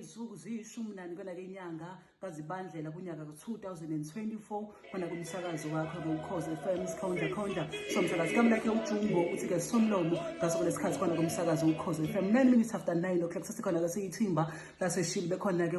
izinsuku ziyishumi nani kwelake inyanga kazibandlela kunyaka ku-2024 khona kumsakazo wakho ngokhoze fm sikhonda khonda somsakazi kamlakhe ujumbo uthi-ke somlomo ngaso kulesikhathi khona kumsakazo ukhoze fm 9 minutes after 9 o'clock sesikhona-ke siyithimba laseshili bekhona-ke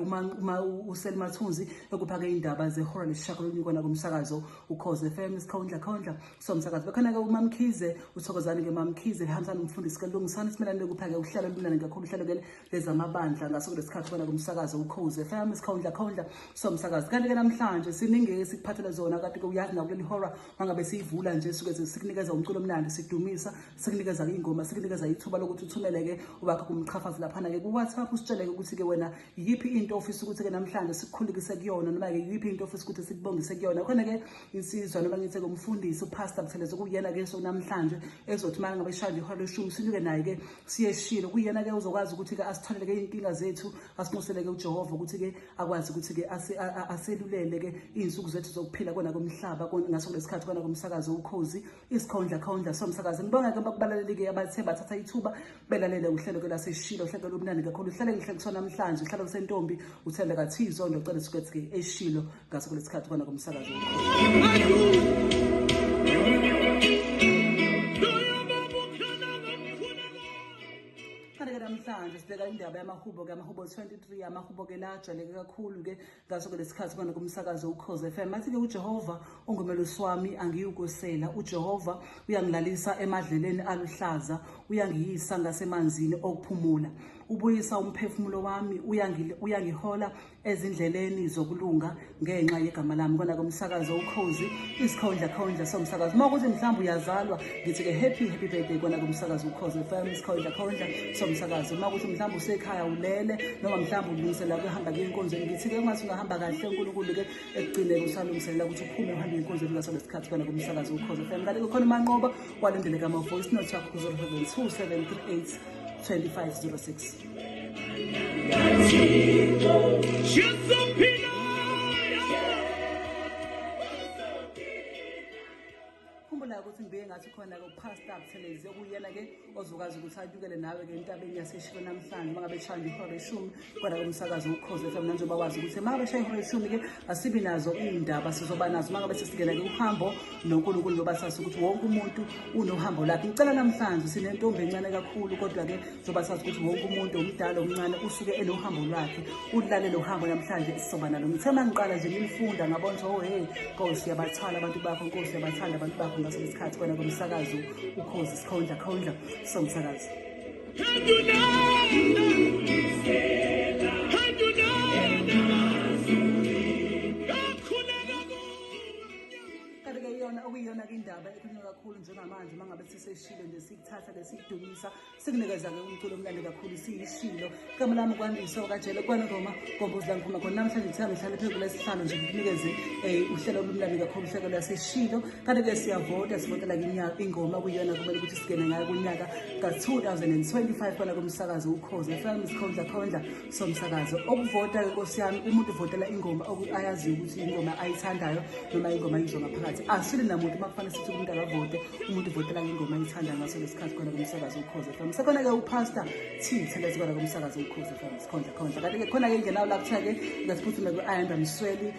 uselimathunzi ekuphake iy'ndaba zehora lesishakololunye kona kumsakazo ukhoze FM isikhondla khondla somsakazi bekhona ke umamkhize uthokozani ke mamkhize ehambisa nomfundisi ke lungisani simelane lokuphake uhlelo lumnandi kakhulu uhlelo ke lezamabandla ngaso kulesikhathi bona kumsakazo ukhoze FM isikhondla khondla somsakazi kanti ke namhlanje siningi esikuphathele zona kade ke uyazi na kuleli horror mangabe siyivula nje suke sikunikeza umculo omnandi sidumisa sikunikeza ingoma sikunikeza ithuba lokuthi uthumele ke ubakho kumqhafazi lapha na ke ku WhatsApp usitshele ukuthi ke wena yiyiphi into ofisa ukuthi-ke namhlanje sikukhulekise kuyona noma-ke yiyiphi into ofisa ukuthi sikubongise kuyona khona-ke insizwa noma ngithi-ke umfundisi upastor butheleza kuyena-ke so namhlanje ezothi uma ngabe ishaya ihora leshumi sinyuke naye-ke siyeshilo kuyena-ke uzokwazi ukuthi-ke asitholele-ke iy'nkinga zethu asinxuseleke ujehova ukuthi-ke akwazi ukuthi-ke aselulele-ke iy'nsuku zethu zokuphila kona komhlaba ngaso kulesikhathi kona komsakazo ukhozi isikhondla khondla somsakazi ngibonga ke bakubalalelike abathe bathatha ithuba belalele uhlelo ke laseshilo uhlelo lomnandi kakhulu uhlelo ngihle kusona namhlanje uhlelo kusentombi uthanda kathizo ndocela sikethi ke eshilo ngaso kulesikhathi kona komsakazi namhlanje sibheka indaba yamahubo-ke amahubo 23 amahubo-ke la ajwayeleke kakhulu-ke ngaso ke lesikhathi kona kumsakazo ukhoze FM mathi ke uJehova ungumelusi wami angiyukusela uJehova uyangilalisa emadleleni aluhlaza uyangiyisa ngasemanzini okuphumula ubuyisa umphefumulo wami uyangihola ezindleleni zokulunga ngenxa yegama lami kona kumsakazo ukhozi isikhondla khondla somsakazo uma ukuthi mhlawumbe uyazalwa ngithi-ke happy happy birthday kona kumsakazi ukhoze fm sikhondla khondla somsakazi uma ukuthi mhlawumbe usekhaya ulele noma mhlawumbe ulungisela kuhamba kuye enkonzweni ngithi-ke ungathi ungahamba kahle unkulunkulu-ke ekugcineke usalungiselela ukuthi uphume uhambe enkonzweni ngaso lesikhathi kona kumsakazi ukhoze fm kanti kukhona umanqoba kwalindeleka ama-voice note yakho ku-0 2738 2506 khumbula ukuthi ngibike ngathi khona-ke upastor abuthelezi okuyena-ke ozokwazi ukuthi atyukele nawe-ke entabeni yaseshilo namhlanje uma ngabe eshaya ihora leshumi kodwa ke umsakazi ukhoze fm nanjengoba wazi ukuthi uma ngabe eshaya ihora leshumi-ke asibi nazo iy'ndaba sizoba nazo uma ngabe sesingena-ke uhambo nonkulunkulu loba sazi ukuthi wonke umuntu unohambo lakhe ngicela namhlanje sinentombi encane kakhulu kodwa-ke Soba sazi ukuthi wonke umuntu omdala omncane usuke enohambo lwakhe ulale lo hambo namhlanje sizoba nalo ngithe uma ngiqala nje ngimfunda ngabona ukuthi oh hey nkosi uyabathwala abantu bakho nkosi uyabathanda abantu bakho ngaso lesikhathi kwena komsakazo ukhozi sikhondla khondla somsakazo Can you know? iyona okuyiyona-ke indaba ekhulunywa kakhulu njengamanje uma ngabe siseshilo nje sikuthatha le sikudumisa sikunikeza-ke umculo omnandi kakhulu siyishilo igama lami kwandiso okajele kwanongoma gombozi langiphuma khona namhlanje ngithanda ngihlale phezu kulesihlalo nje ngikunikeze um uhlelo olumnandi kakhulu uhlelo lwaseshilo kanti-ke siyavota sivotela ingoma kuyona kumele ukuthi singene ngayo kunyaka ka-2025 kona komsakazi ukhozi fm sikhondla khondla somsakazo okuvota-ke nkosi yami umuntu uvotela ingoma ayaziyo ukuthi ingoma ayithandayo noma ingoma ayizwa ngaphakathi asile namuntu uma kufanele sithi umuntu akavote umuntu uvotela ngengoma ayithandayo ngaso lesi khathi khona komsakazo ukhoze fam sekhona-ke upasta thithelezi kona komsakazo ukhoze fam sikhondla khondla kanti-ke khona-ke ingenawo la kuthiwa-ke ngaziphuthume kwi-ayanda msweli